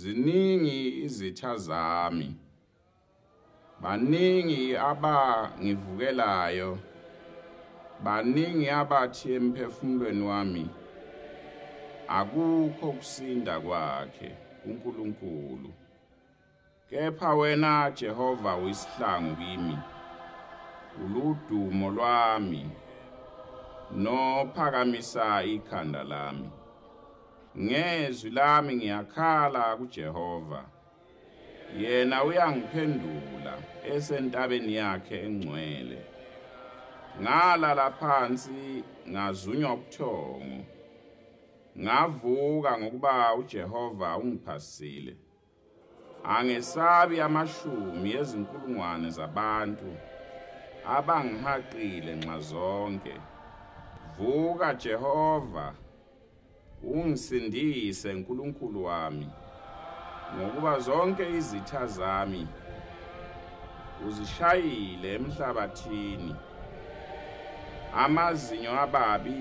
Ziningi izitha zami. Baningi abangivukelayo. Baningi abathi emphefumulweni wami akukho kusinda kwakhe kuNkulunkulu. Kepha wena Jehova uyisihlangu kimi, uludumo lwami nophakamisa ikhanda lami. Ngezwi lami ngiyakhala kuJehova. Yena uyangiphendula esentabeni yakhe engcwele. Ngalala phansi ngazunywa ubuthongo. Ngavuka ngokuba uJehova ungiphasile. Angesabi amashumi ezinkulungwane zabantu abangihaqile nxazonke. Vuka Jehova, ungisindise Nkulunkulu wami, ngokuba zonke izitha zami uzishayile emhlabathini. Amazinyo ababi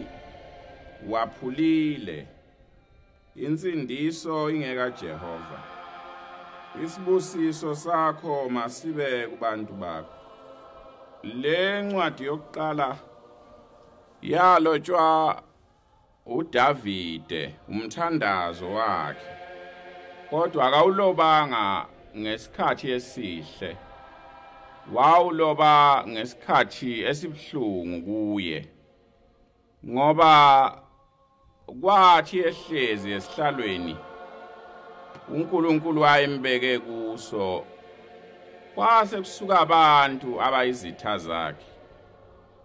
waphulile. Insindiso ingeka Jehova. Isibusiso sakho masibe kubantu bakho. Le ncwadi yokuqala yalotshwa uDavide umthandazo wakhe. Kodwa akawulobanga ngesikhathi esihle. Wawuloba ngesikhathi esibuhlungu kuye. ngoba kwathi ehlezi esihlalweni uNkulunkulu wayembeke kuso kwase kusuka abantu abayizitha zakhe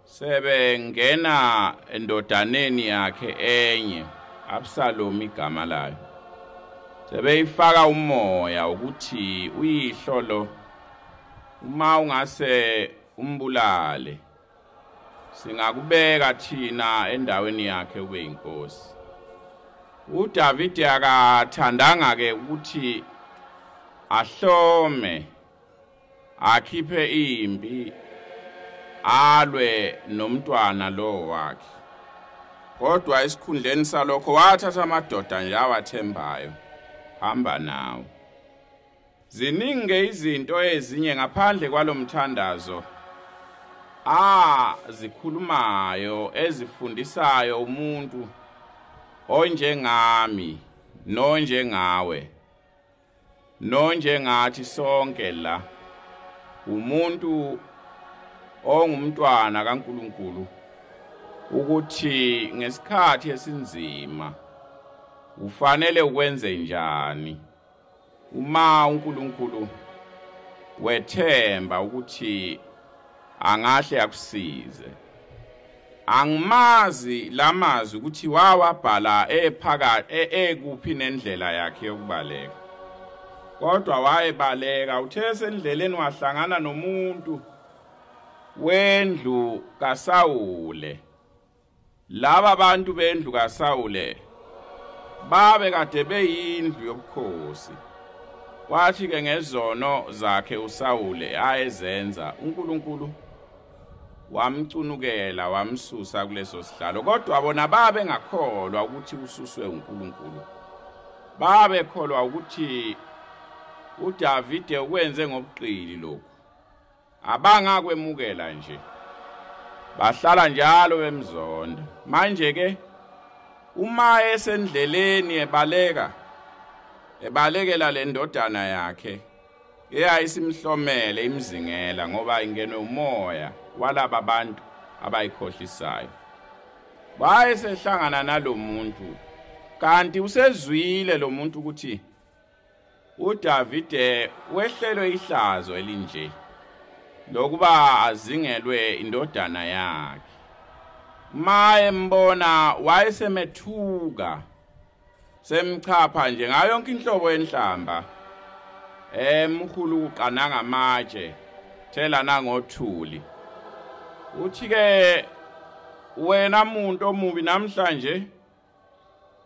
sebengena endodaneni yakhe enye Absalom igama layo sebeyifaka umoya ukuthi uyihlolo uma ungase umbulale singakubeka thina endaweni yakhe ube inkosi uDavide akathandanga ke ukuthi ahlome akhiphe impi alwe nomntwana lo wakhe kodwa esikhundleni salokho wathatha amadoda nje awathembayo hamba nawo Ziningi izinto ezinye ngaphandle kwalomthandazo a zikhulumayo ezifundisayo umuntu onjengami nonjengawe nonjengathi sonke la umuntu ongumntwana kaNkuluNkulu ukuthi ngesikhathi esinzima ufanele ukwenze njani Uma uNkulunkulu wethemba ukuthi angahle akusize. Angimazi lamazwi ukuthi wawabhala ephaka e-, ekuphi nendlela yakhe yokubaleka. Kodwa wayebaleka uthe sendleleni wahlangana nomuntu wendlu kaSawule Laba bantu bendlu kaSawule babe kade beyindlu yobukhosi. Kwathi ke ngezono zakhe uSawule ayezenza uNkulunkulu wamcunukela wamsusa kuleso sihlalo kodwa bona babe ngakholwa ukuthi ususwe uNkulunkulu babe kholwa ukuthi uDavide ukwenze ngobuqili lokhu abangakwemukela nje bahlala njalo bemzonda manje ke uma esendleleni ebaleka ebalekela le ndodana yakhe eyayisimhlomele imzingela ngoba ingenwe umoya walaba bantu abayikhohlisayo wayesehlangana nalomuntu kanti usezwile lomuntu ukuthi UDavide wehlelwe ihlazo elinje lokuba azingelwe indodana yakhe. Maye mbona wayesemethuka semchapha nje ngayo yonke inhlobo yenhlamba emkhulu kuqana ngamatshe thela nangothuli uthi ke wena muntu omubi namhlanje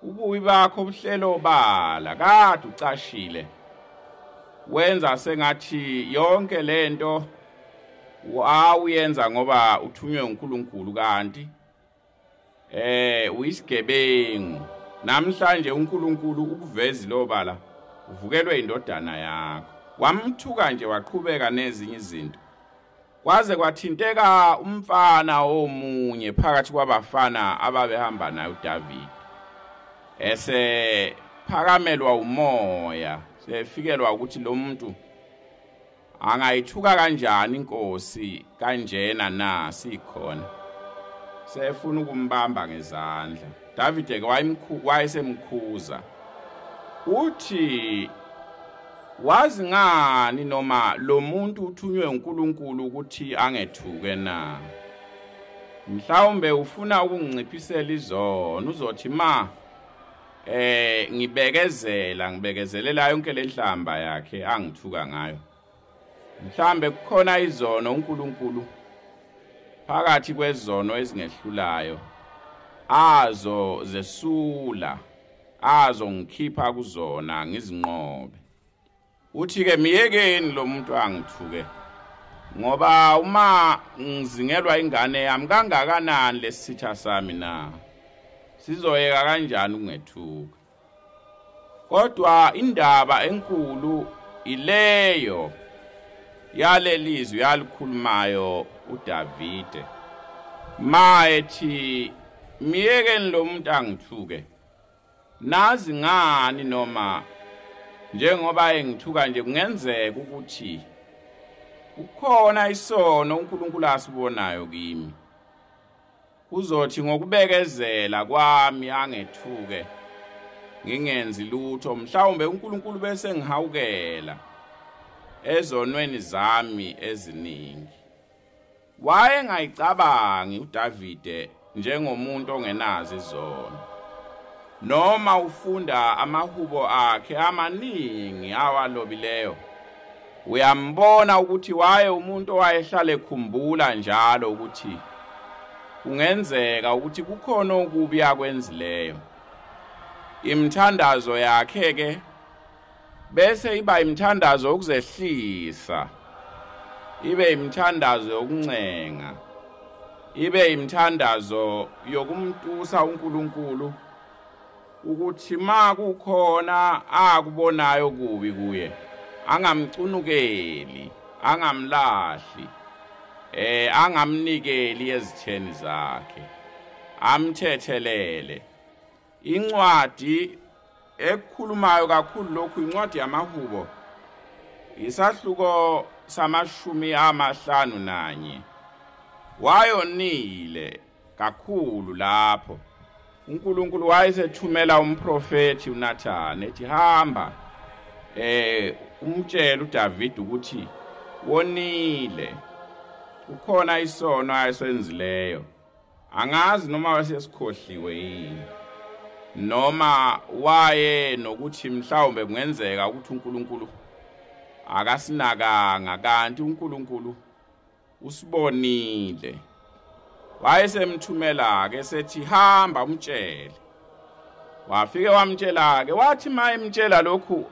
ubuyi bakho ubuhlelo obala kade ucashile wenza sengathi yonke lento wawuyenza ngoba uthunywe uNkulunkulu kanti eh uyisigebengu namhlanje uNkulunkulu ukuvezi lobala uvukelwe indodana yakho wamthuka nje waqhubeka nezinye izinto Kwaze kwathinteka umfana omunye phakathi kwabafana ababehamba naye uDavid. Ese phakamelwa umoya, sefikelwa ukuthi lo muntu angayithuka kanjani inkosi kanjena na sikhona. Sefuna ukumbamba ngezandla. Davide-ke wayemkhu- wayesemkhuza uthi wazi ngani noma lo muntu uthunywe uNkulunkulu ukuthi angethuke na mhlawumbe ufuna ukunginciphisela izono uzothi ma eh ngibekezela ngibekezelela yonke lenhlamba yakhe angithuka ngayo Mhlambe kukhona izono uNkulunkulu phakathi kwezono ezingehlulayo azo zesula azo ngikhipha kuzona ngizinqobe uthi ke miyekeni lo muntu angithuke ngoba uma ngizingelwa ingane yami kangakanani lesitha sami na sizoyeka kanjani ukungethuka kodwa indaba enkulu ileyo yalelizwi yalikhulumayo uDavide mayethi miyekeni lo muntu angithuke nazi ngani noma njengoba engithuka nje kungenzeka ukuthi kukhona isono uNkulunkulu asibonayo kimi Kuzothi ngokubekezela kwami angethuke ngingenzi lutho mhlawumbe uNkulunkulu bese ngihawukela ezonweni zami eziningi. Wayengayicabangi uDavide njengomuntu ongenazi izono. Noma ufunda amahubo akhe amaningi awalobileyo Uyambona ukuthi waye umuntu owayehlale khumbula njalo ukuthi kungenzeka ukuthi kukhona okubi akwenzileyo. Imthandazo yakhe ke bese iba imthandazo yokuzehlisa. Ibe imthandazo yokuncenga. Ibe imthandazo yokumtusa uNkulunkulu. ukuthi ma kukhona akubonayo kubi kuye angamcunukeli angamlahli eh angamnikeli ezitheni zakhe amthethelele incwadi ekukhulumayo kakhulu lokhu incwadi yamahubo isahluko samashumi amahlanu nanye wayonile kakhulu lapho uNkulunkulu wayesethumela umprofeti uNathan ethi hamba eh umtshela uDavid ukuthi wonile ukhona isono ayesenzileyo angazi noma wasesikhohliwe yini noma waye nokuthi mhlawumbe kungenzeka ukuthi uNkulunkulu akasinakanga kanti uNkulunkulu usibonile wayesemthumela-ke sethi hamba umtshele wafike wamtshela-ke wathi ma emtshela lokhu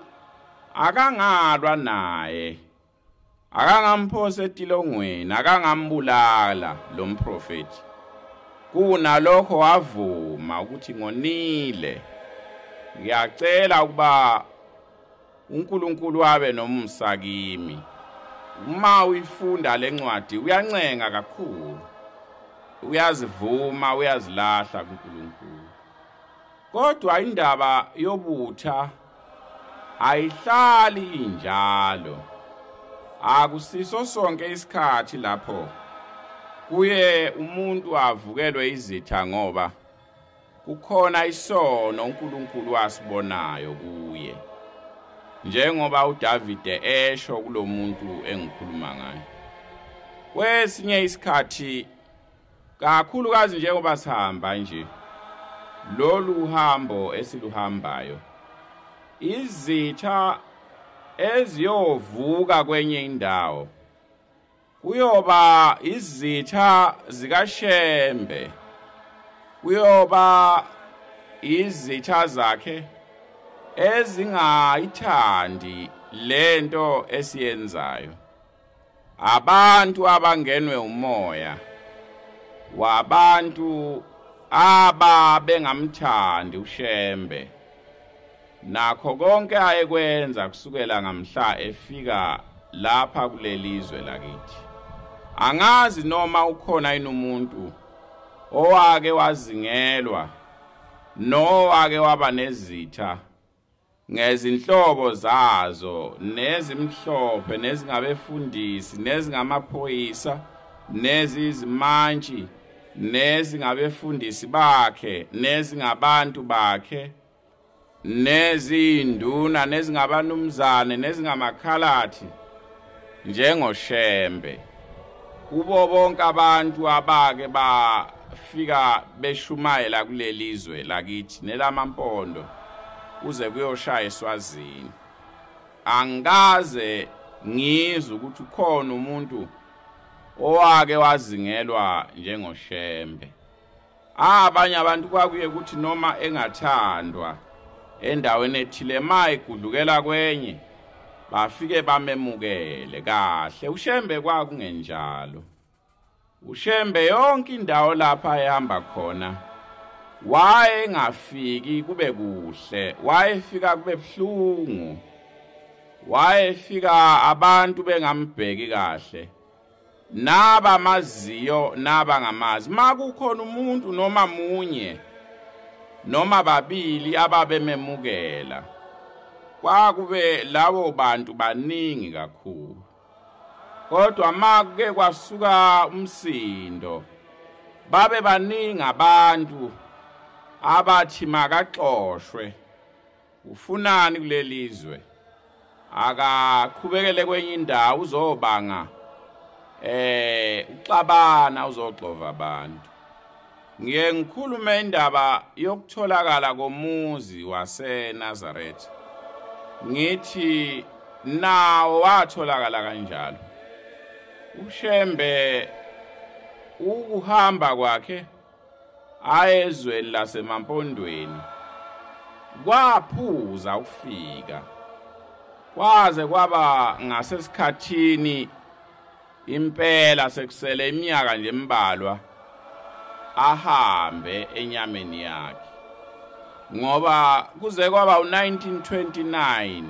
akangalwa naye akangamphosa etilongweni akangambulala lo mprofethi kunalokho wavuma ukuthi ngonile ngiyacela ukuba uNkulunkulu abe nomusa kimi uma uyifunda le ncwadi uyancenga kakhulu uyazivuma uyazilahla kuNkulunkulu kodwa indaba yobutha ayihlali injalo akusiso sonke isikhathi lapho kuye umuntu avukelwe izitha ngoba Kukhona isono uNkulunkulu asibonayo kuye. Njengoba uDavide esho kulomuntu engikhuluma ngaye. Kwesinye isikhathi kakhulukazi njengoba sihamba nje lolu hambo esiluhambayo izitha eziyovuka kwenye indawo kuyoba izitha zikashembe kuyoba izitha zakhe ezingayithandi lento esiyenzayo abantu abangenwe umoya wabantu aba bengamthandi ushembe Nakho konke ayekwenza kusukela ngamhla efika lapha kulelizwe lakithi. Angazi noma ukhona inomuntu owake wazingelwa nowake waba nezitha ngezinhlobo zazo nezimhlophe nezingabefundisi nezingamaphoyisa nezizimantshi nezingabefundisi bakhe nezingabantu bakhe nezinduna nezingabanumzane nezingamakhalathi njengoshembe kubo bonke abantu abake bafika beshumayela kuleli zwe lakithi nelamampondo kuze kuyoshaya eswazini angikaze ngizwe ukuthi ukhona umuntu owake wazingelwa njengoshembe Ah, abanye abantu kwakuye ukuthi noma engathandwa endaweni ethile maye gudlukela kwenye bafike bamemukele kahle ushembe kwakungenjalo ushembe yonke indawo lapha ehamba khona waye ngafiki kube kuhle wayefika kube buhlungu wayefika abantu bengambheki kahle naba maziyo naba ngamazi makukhona umuntu noma munye noma babili ababememukela kwakube lawo bantu baningi kakhulu kodwa makuke kwasuka umsindo babe baningi abantu abathi makaxoshwe ufunani kulelizwe akaqhubekele kwenye indawo uzobanga eh uxabana uzoxova abantu ngiye ngikhulume indaba yokutholakala komuzi waseNazareth ngithi nawo watholakala kanjalo ushembe ukuhamba kwakhe Hayi ezweni lasemampondweni kwaphuza ukufika kwaze kwaba ngasesikhathini impela sekusele iminyaka nje embalwa ahambe enyameni yakhe ngoba kuze kwaba u1929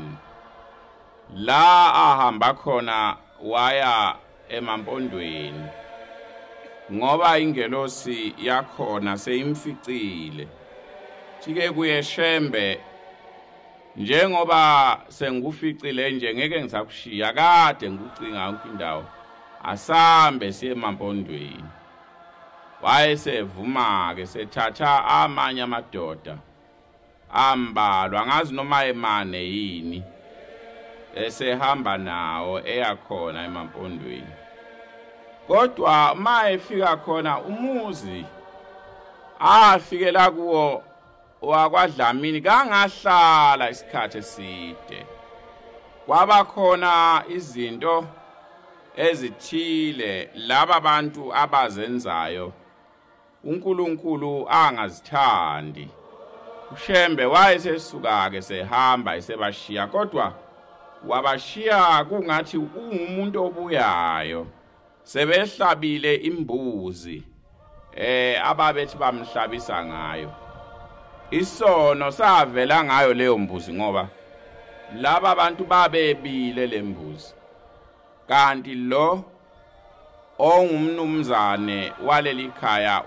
la ahamba khona waya emampondweni ngoba ingelosi yakhona seyimficile jike kuye shembe njengoba senguficile nje ngeke ngisakushiya kade ngikucinga yonke indawo asambe siye emampondweni wayesevuma-ke sethatha amanye amadoda ambalwa angazi noma emane yini esehamba nawo eyakhona emampondweni kodwa uma efika khona umuzi afikela kuwo wakwadlamini kangahlala isikhathi eside kwaba khona izinto ezithile laba bantu abazenzayo uNkulunkulu angazithandi uShembe wayesesuka-ke sehamba esebashiya kodwa wabashiya kungathi ungumuntu obuyayo sebehlabile imbuzi eh ababethi bamhlabisa ngayo isono savela ngayo leyo mbuzi ngoba laba bantu babebile lembuzi kanti lo ongumnumzane waleli khaya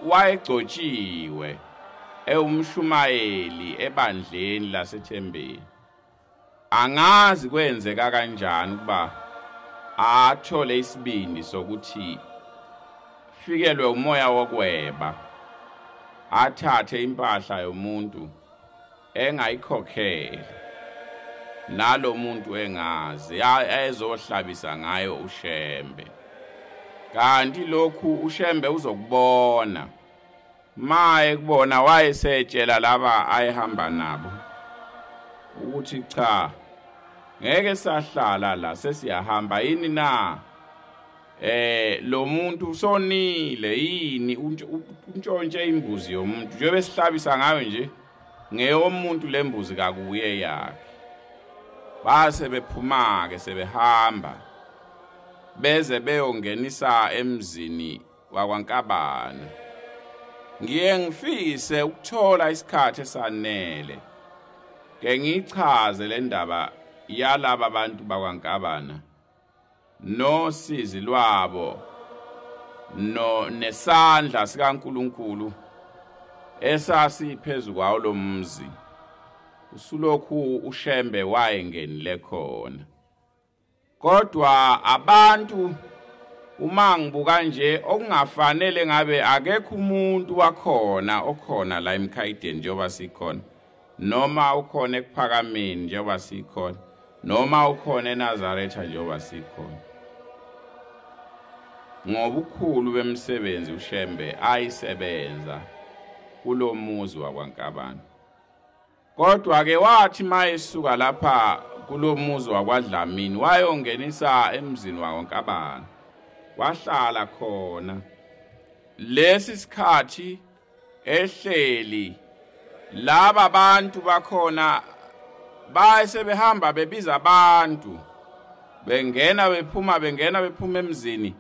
wayegcotshiwe ewumshumayeli ebandleni lasethembeni angazi kwenzeka kanjani ukuba athole isibindi sokuthi fikelwe umoya wokweba athathe impahla yomuntu engayikhokhele nalo muntu engazi ayezohlabisa ngayo uShembe kanti lokhu uShembe uzokubona maye kubona wayesetshela laba ayehamba nabo ukuthi cha ngeke sahlala la sesiyahamba yini na eh lo muntu usonile yini untshontshe imbuzi yomuntu njengoba sihlabisa ngayo nje ngeyomuntu lembuzi kakuye yakhe base bephumake sebehamba beze beyongenisa emzini wakwankabana ngiye ngifise ukuthola isikhathi esanele ke ngichaze le ndaba yalaba bantu bakwankabana nosizi lwabo no nesandla sikaNkuluNkulu esasi phezu kwawo lomzi usulokhu ushembe wayengenile khona kodwa abantu uma ngibuka nje okungafanele ngabe akekho umuntu wakhona okhona la emkhayideni njengoba sikhona noma ukhona ekuphakameni njengoba sikhona noma ukhona eNazaretha njengoba sikhona ngobukhulu bemsebenzi uShembe ayisebenza kulomuzi wakwaNkabana kodwa ke wathi mayesuka lapha kulomuzi wakwaDlamini wayongenisa emzini wakwaNkabana wahlala khona lesi sikhathi ehleli laba abantu bakhona base behamba bebiza abantu bengena bephuma bengena bephuma emzini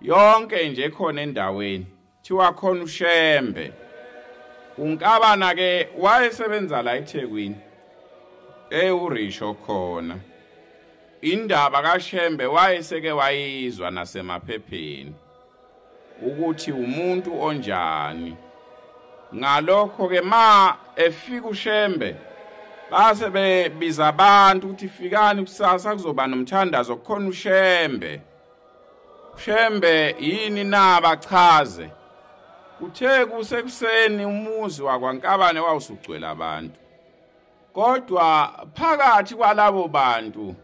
yonke nje khona endaweni thiwa khona ushembe unkabana ke wayesebenza la eThekwini eh urisho khona indaba kaShembe wayeseke wayizwa nasemaphepheni ukuthi umuntu onjani ngalokho ke ma efika ushembe base bebiza abantu ukuthi fikani kusasa kuzoba nomthandazo kukhona ushembe ushembe yini na bachaze kuthe kusekuseni umuzi wakwankabane wawusugcwele abantu Kodwa phakathi kwalabo bantu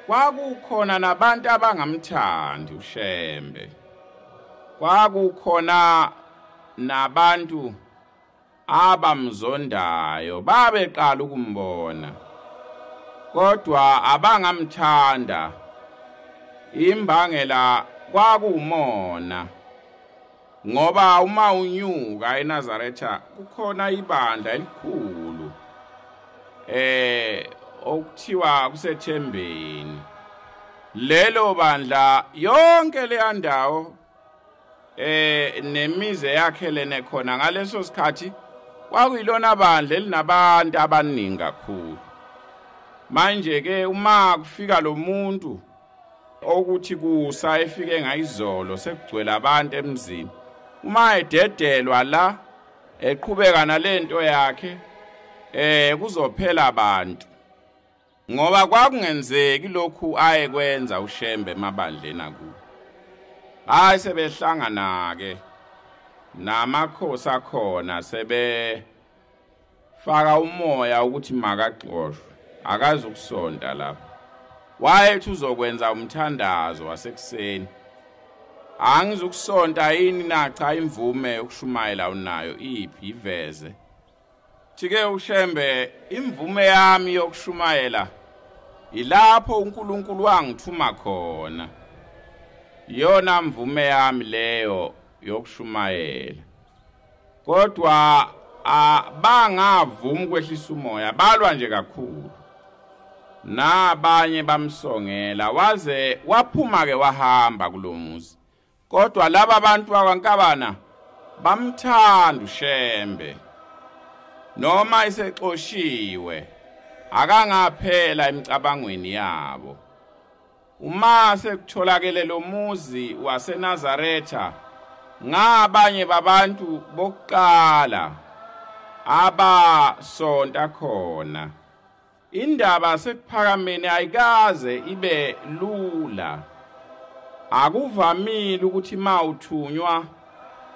kwakukhona nabantu abangamthandi uShembe. Kwakukhona nabantu abamzondayo babeqala ukumbona. Kodwa abangamthanda imbangela kwakuwumona. Ngoba uma unyuka eNazaretha kukhona ibandla elikhulu eh okuthiwa kusethembeni lelo bandla yonke leya ndawo eh nemize yakhe lene khona ngaleso sikhathi kwakuyilona bandla elinabantu abaningi kakhulu manje ke uma kufika lo muntu okuthi kusa efike ngayizolo sekugcwele abantu emzini uma ededelwa la eqhubeka nalento yakhe eh kuzophela abantu ngoba kwakungenzeki lokhu aye kwenza ushembe emabandleni akuwo hayi sebehlangana ke namakhosi akhona sebe faka umoya ukuthi makagxoshwe akazi ukusonta lapha wayethi uzokwenza umthandazo wasekuseni angizukusonta yini na cha imvume yokushumayela unayo iphi iveze thike ushembe imvume yami yokushumayela ilapho uNkulunkulu wangithuma khona iyona mvume yami leyo yokushumayela kodwa abangavumi ukwehlisa umoya balwa nje kakhulu nabanye bamsongela waze waphuma ke wahamba kulomuzi kodwa laba bantu bakwankabana bamthanda ushembe noma isexoshiwe akangaphela emicabangweni yabo Uma sekutholakele lo muzi waseNazaretha ngabanye babantu bokuqala abasonta khona. Indaba sekuphakameni ayikaze ibe lula. Akuvamile ukuthi mawuthunywa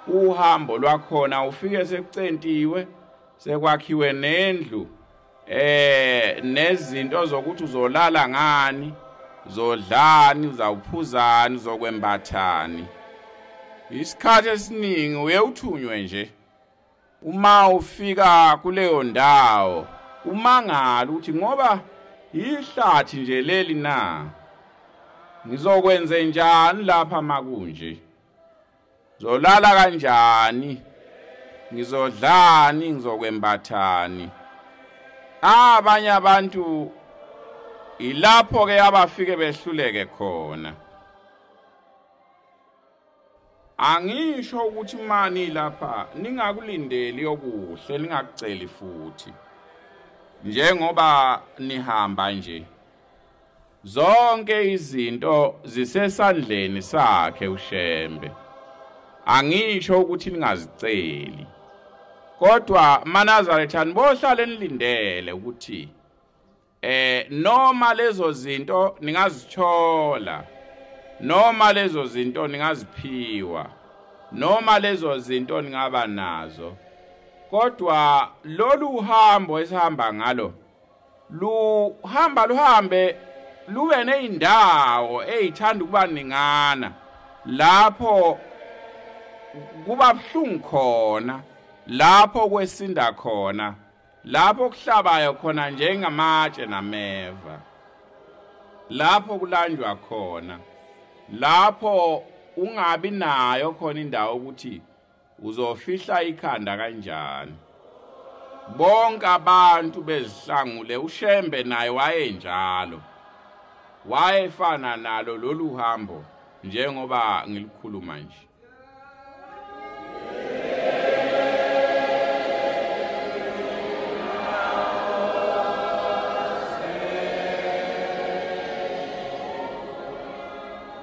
uhambo lwakhona ufike sekucentiwe sekwakhiwe nendlu eh nezinto zokuthi uzolala ngani zodlani uzawuphuzani uzokwembathani isikhathi esiningi uye uthunywe nje uma ufika kuleyo ndawo umangala ukuthi ngoba yihlathi nje leli na ngizokwenze njani lapha makunje Zolala kanjani? Ngizodlani ngizokwembathani? Ah, abanye abantu ilapho ke abafike behluleke khona. Angisho ukuthi mani lapha ningakulindeli okuhle ningakuceli futhi. Njengoba nihamba nje. Zonke izinto zisesandleni sakhe uShembe. Angisho ukuthi ningaziceli. Kodwa maNazaretha nibohlala enilindele ukuthi eh noma lezo zinto ningazithola noma lezo zinto ningaziphiwa noma lezo zinto ningaba nazo kodwa lolu hambo esihamba ngalo luhamba luhambe lube nezindawo ezithanda ukuba ningana lapho kuba buhlungu khona lapho kwesinda khona lapho kuhlabayo khona njengamatshe nameva lapho kulanjwa khona lapho ungabi nayo khona indawo ukuthi uzofihla ikhanda kanjani bonke abantu bezihlangule ushembe naye wayenjalo wayefana nalo lolu hambo njengoba ngilikhuluma nje